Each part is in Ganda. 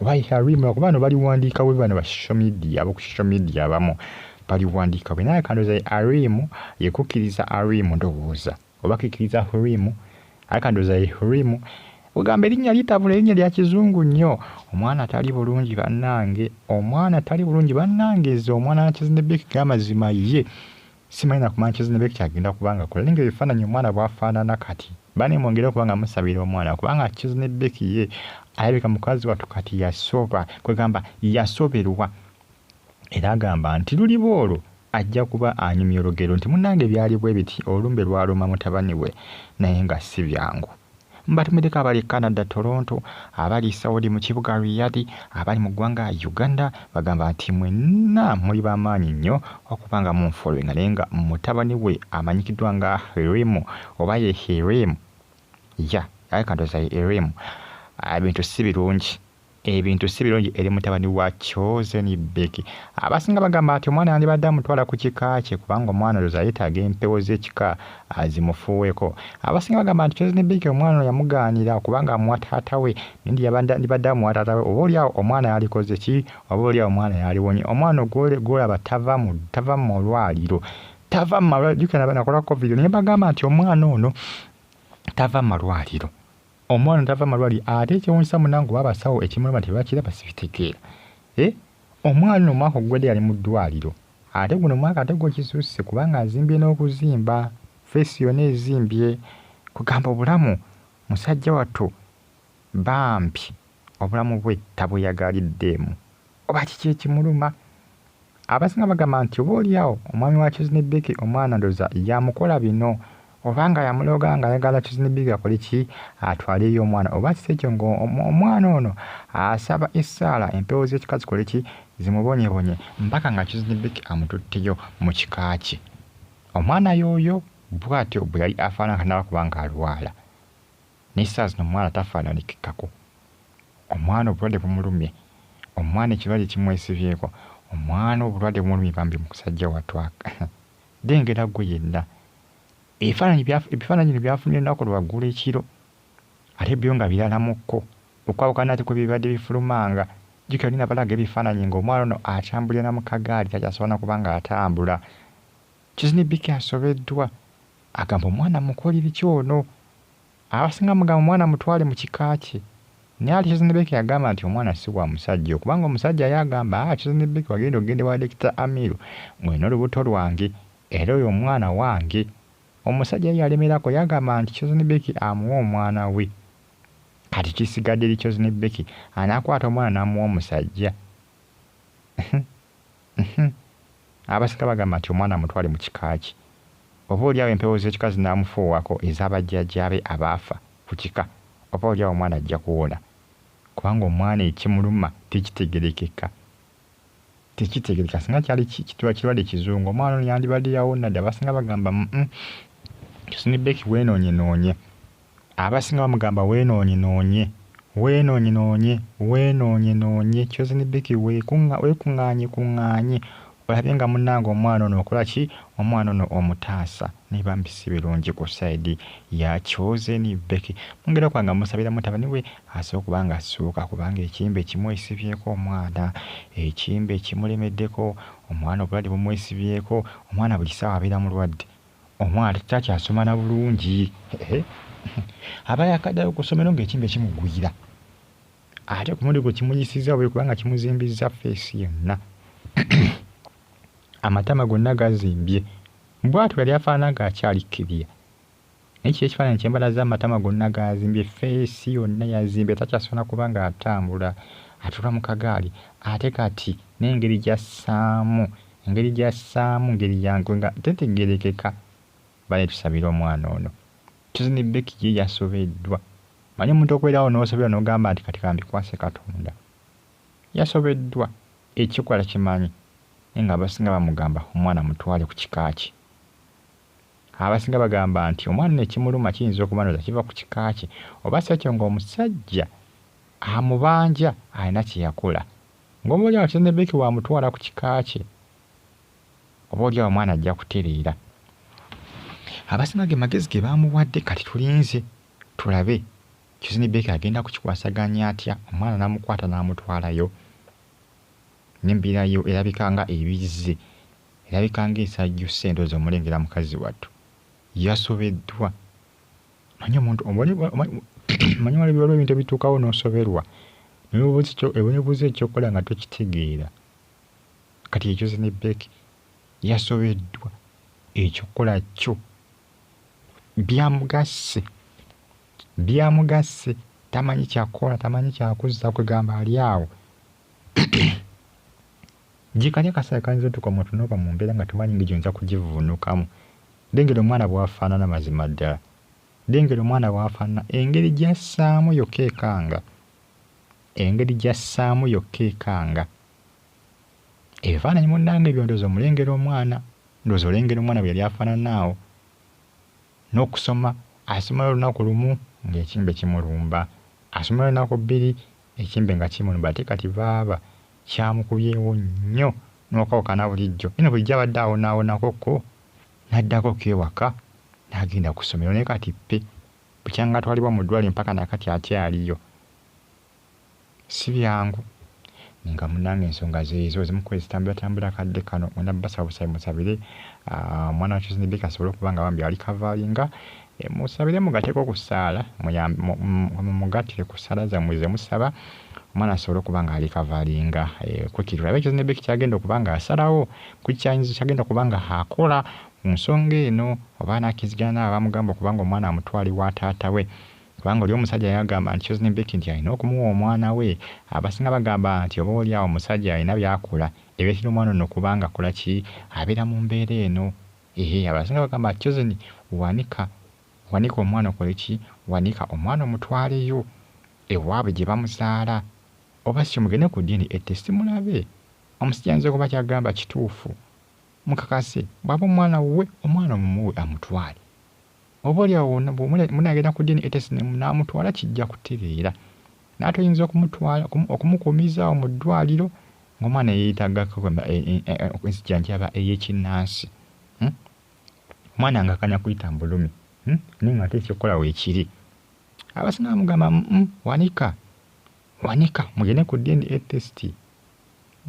Why Harim lwakuba bano baliwandiika we bano ba social media aboku social media abamu baliwandiika we naye kandoza Harim yekukiriza Harim ndowooza oba kikiriza Harim aye kandoza Harim ogamba erinnya litabula erinnya lya kizungu nnyo omwana tali bulungi bannange omwana tali bulungi bannange ze omwana nakizine big gamazima ye Simanyi na ku Manchester ne Becky agenda kuba nga kola naye nga ebifaananyi omwana bwafaanana kati. Bane mwongere okuba nga musabira omwana kubanga Chizz ne Becky ye alabika mukazi wattu kati yasoba kwegamba yasoberwa era agamba nti luliba olwo ajja kuba anyumya olugero nti munnange byali bwe biti olumbe lwaluma mutabani we naye nga si byangu. Batumiddeko abali e Canada, Toronto, abali e Saudi mu kibuga Riyadh, abali mu ggwanga Uganda bagamba nti mwenna muli ba maanyi nnyo okuba nga munfollowinga naye nga mutabani we amanyikiddwa nga Heremu oba ye Heremu ya alabika ndowooza ye Heremu ebintu si birungi. ebintu si birungi eri mutabani wa Chosen Big. Abasinga bagamba nti omwana yandibadde amutwala ku kika kye kubanga omwana oyo zayetaaga empewo z'ekika azimufuuweko. Abasinga bagamba nti Chosen Big omwana oyo yamugaanira kubanga amuwa taata we nindi yandibadde amuwa taata we oba olyawo omwana yalikoze ki oba olyawo omwana yaliwonye. Omwana ogwolaba tava mu tava mu malwaliro tava mu malwaliro jukira nakolako vidiyo ne bagamba nti omwana ono tava mu malwaliro. Omwana tava malwali ate ekyewunyisa munange oba abasawo ekimuluma tebakiraba sibitegeera eh omwana ono omwaka oguwedde yali mu ddwaliro ate guno omwaka ate gwo kisusse kubanga azimbye n'okuzimba face yona ezimbye kugamba obulamu musajja wattu bambi obulamu bwe tabweyagaliddeemu. Oba kiki ekimuluma? Abasinga bagamba nti oba olyawo omwami wa Kiznibiki omwana ndoza yamukola bino oba nga yamuloga nga ayagala Kiznibiki akole ki atwaleyo omwana oba kisi ekyo nga omwana ono asaba essaala empewo z'ekika zikole ki zimubonyebonye mpaka nga Kiznibiki amututteyo mu kika kye. Omwana yooyo bwatyo bwe yali afaanana kanabakuba ng'alwala. Naye saa zino omwana tafaanalikikako. Omwana obulwadde bumulumye. Omwana ekirwadde kimwesibyeko. Omwana obulwadde bumulumye bambi mukusajja wattu aka. Dengera ggwe yenna. Ebifaananyi bya, ebifaananyi bino byafunye olunaku lwa ggulo ekiro. Ate byo nga birala mu kko. Okwawukana nate kwe bibadde bifulumanga. Jjukira oli nabalaga ebifaananyi nga omwana ono akyambulira na mu kagaali takyasobola na kuba nga atambula. Kizni Biki asobeddwa, agamba omwana mukolibiki ono? Abasinga mugamba omwana mutwale mu kika kye naye ate Kizni Beki agamba nti omwana si wa musajja okubanga omusajja ye agamba haa Kizni Beki wagenda okugenda ewa Dokita Amiru ng'olina olubuto lwange era oyo omwana wange. Omusajja ye yalemerako yagamba nti Kizni Beki amuwe omwana we. Kati kisigadde eri Kizni Beki anaakwata omwana n'amuwa omusajja? Uhmm abasinga bagamba nti omwana mutwale mu kika kye. Oba olyawo empewo zekika zinamufuuwako eza ba jjajja be abaafa ku kika oba olyawo omwana ajja kuwona. Kubanga omwana ekimuluma tekitegerekeka. Tekitegereka singa kyali kirwadde kizungu omwana ono yandibadde yawonna dda abasinga bagamba uhmm Husni Beki wenonye nonye. Abasinga bamugamba wenoonyenoonye, wenoonyenoonye, wenoonyenoonye, Chosen Becky wekunga, wekungaanyekunngaanye olabe nga munnange omwana ono okola ki, omwana ono omutaasa. Naye bambi si birungi ku side ya Chosen Becky. Mu ngeri okuba nga musabira mutabani we asobole okuba nga assuuka kubanga ekimbe kimwesibyeko omwana, ekimbe kimulemeddeko, omwana obulwadde bumwesibyeko, omwana buli ssaawa abeera mulwadde. Omwana takyasoma na bulungi. Aba yakaddayo ku ssomero ng'ekimbe kimugwira. Ate ku mulundi gwe kimuyisizza bubi kubanga kimuzimbizza ffeesi yonna. Amatama gonna gazimbye. Bw'atyo yali afaanana ng'akyali kkiriya. Naye kiki ekifaananyi kye mbalaze amatama gonna gaazimbye, ffeesi yonna yazimbye, takyasobola na kuba ng'atambula, atuula mu kagaali ate kati n'engeri gy'assaamu Engeri gy'assaamu ngeri ya nkwe nga tetegeerekeka. Bale tusabire omwana ono. Chosen Becky ye yasobeddwa. Omanyi omuntu okubeerawo n'osoberwa n'ogamba nti kati kambikwase Katonda. Yasobeddwa. Ekikola takimanyi. Naye nga abasinga bamugamba omwana mutwale ku kika kye. Abasinga bagamba nti omwana ono ekimuluma kiyinza okuba ndowooza kiva ku kika kye oba si ekyo ng'omusajja amubanja alina kye yakola. Ng'oba oli awo kizadde Becky wamutwala ku kika kye, oba oli awo omwana ajja kutereera. Abasima ge magezi ge baamuwadde kati tulinze tulabe kizini Becky agenda kukikwasaganya atya omwana n'amukwata n'amutwalayo. N'embirayo erabika nga ebizze, erabika nga esajjusse ndowooza omulengera mukazi wattu. Yasobeddwa. manyi omuntu manyi waliwo waliwo ebintu ebituukawo n'osoberwa newebuuza ekyokukola nga tokitegeera kati ekyo zinebek yasobeddwa ekyokukola kyo byamugasse byamugasse tamanyi kyakukola tamanyi kyakuzza kwegamba ali awo Gikanya kasera kayinza otuka omuntu noba mumbera nga tomanyi ngeri gyoyinza kugivunukamu lengera omwana bwafanana mazima ddala lengera omwana bwafanana engeri gyassaamu yokka ekanga engeri gyassaamu yokka ekanga ebifaananyi munange ebyo ndowooza omulengera omwana ndowooza olengera omwana bweyali afanana awo nokusoma asomala olunaku lumu ngekimbe kimulumba asomala olunaku bbiri Ekimbe nga kimunba ate kati baaba kyamukubyewo nnyo n'okwawukana bulijjo. Nnyina bulijjo abadde awonaawonako ko n'addako ko ewaka n'agenda ku ssomero naye kati ppi. Bukyanga atwalibwa mu ddwaaliro mpaka na kati akyaliyo. Si byangu. Naye nga munnange ensonga zeezo ezimu ku ezitambulatambula akadde kano. Mwena basaabusabi musabire omwana wa Chosen Baker asobole okuba nga bambi alikavaalinga E, musabire mugateko ku ssaala mumugatire ku ssaala zammwe ze musaba omwana asobole okuba nga alikavalinga e, kwekiri olabe ekyo zinebeki kyagenda okuba nga asalawo kukyayinza kyagenda okuba nga akola ku nsonga eno oba anakizigana naabo abamugamba okuba nga omwana amutwali wa taata we kubanga oli omusajja yagamba nti Chosen Becky nti alina okumuwa omwana we abasinga bagamba nti oba oli awo omusajja alina byakola ebiretera omwana ono okuba nga akola ki abeera mu mbeera eno Ehe abasinga bagamba chosen wanika wanika omwana okole ki wanika omwana omutwaleyo ewabwe gyebamuzaala oba syo mugende ku DNA test mulabe omusajja ayinza okuba kyagamba kituufu mukakase bwaba omwana wuwe omwana mumuwe amutwale Oba oli awo munagenda ku DNA test n'amutwala kijja kutereera. Naye toyinza okumutwala okumukuumizaawo mu ddwaliro ng'omwana yeeyetaaga e, e, e, ensijanjaba ey'ekinnansi. Hmm? Omwana ng'akanya kuyita mu bulumi hmm? naye ng'ate ekyokukola weekiri. Abasinga bamugamba hmm, wanika wanika mugende ku DNA test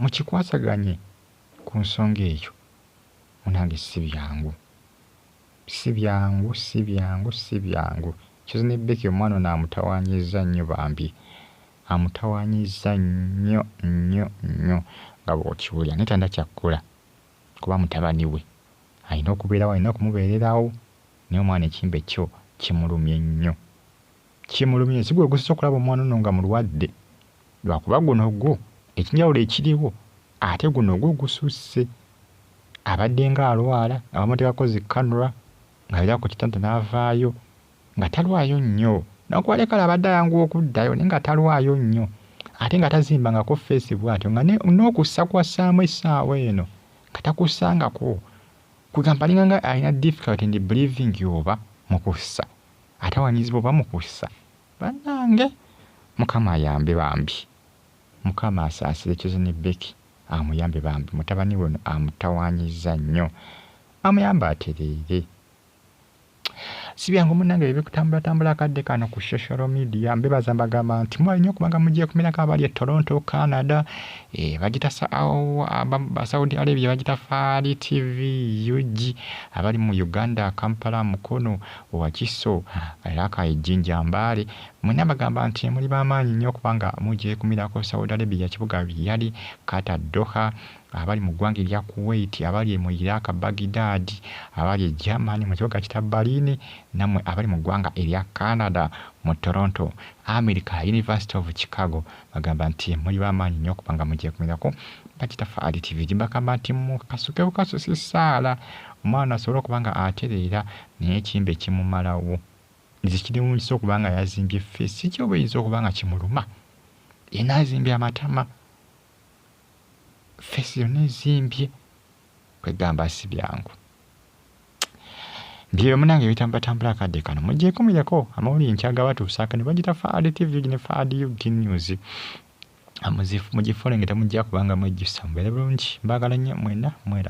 mukikwasaganye ku nsonga eyo. Munange si byangu. Sibyangu sibyangu sibyangu coz ne Becky omwana ono amutawanyizza nnyo bambi amutawanyizza nnyo nnyo nnyo nga bwokiwulira naye talina kyakkola kuba mutabani we alina okubeerawo alina okumubeererawo naye omwana ekimbe kyo kimulumye nnyo. Kimulumye si gwe gusinze okulaba omwana ono nga mulwadde lwakuba guno gwo ekinjawulo ekiriwo ate guno gwo gususse abadde nga alwala nga bamuteekako zi kanura ng'abira ku kitanda n'avaayo nga talwayo nnyo nakuwale kale abadde ayanguwa okuddayo naye nga talwayo nnyo ate nga tazimbangako feesi bw'atyo nga n'okussa kwassaamu essaawa eno nga takussangako kugamba alinga nga alina difficulty ndi believing oba mu kussa Atawanyizibwa oba mukussa banange mukama ayambe bambi. Mukama asaasire coz ne Becky amuyambe bambi mutabani we ono amutawanyiza nnyo amuyambe atereere. Sibyangu munange ebyo bikutambula tambula akadde kano ku social media mbebaza mbagamba nti mwali nyo kubanga mugyekumirako abali e Toronto Canada e, bagita Saudi Arabia bagita Fari TV UG abali mu Uganda Kampala Mukono Wakiso, Rakai, Jinja, Mbale mwena bagamba nti muli bamaanyi nyo kubanga mugyekumirako Saudi Arabia kibuga Riyadh, Qatar, Doha, abali mu gwanga erya Kuwait, abali mu Iraq Baghdad, abali e German mu kibuga kita Berlin, namwe abali mu gwanga erya Canada mu Toronto, America, University of Chicago bagamba nti muli bamaanyi nyo kubanga mugyekumirako Bakitaffe Ali TV gyebagamba nti mukasuke bukasusi saala omwana asobole okuba nga atereera Naye ekimbe kimumalawo. Nze kinewunyisa okuba nga yazimbye face sijja oba eyinza okuba nga kimuluma yena azimbye amatama face yona ezimbye kwegamba sibyangu byeyo munange ebitambatambula akadde kano mujekumireko amawulire nti agabatuusaako ne bagita faad tv ne faad ug news mugifolenge temujja kubanga mwejjusa mubeere bulungi mbagala nnyo mwena mweraba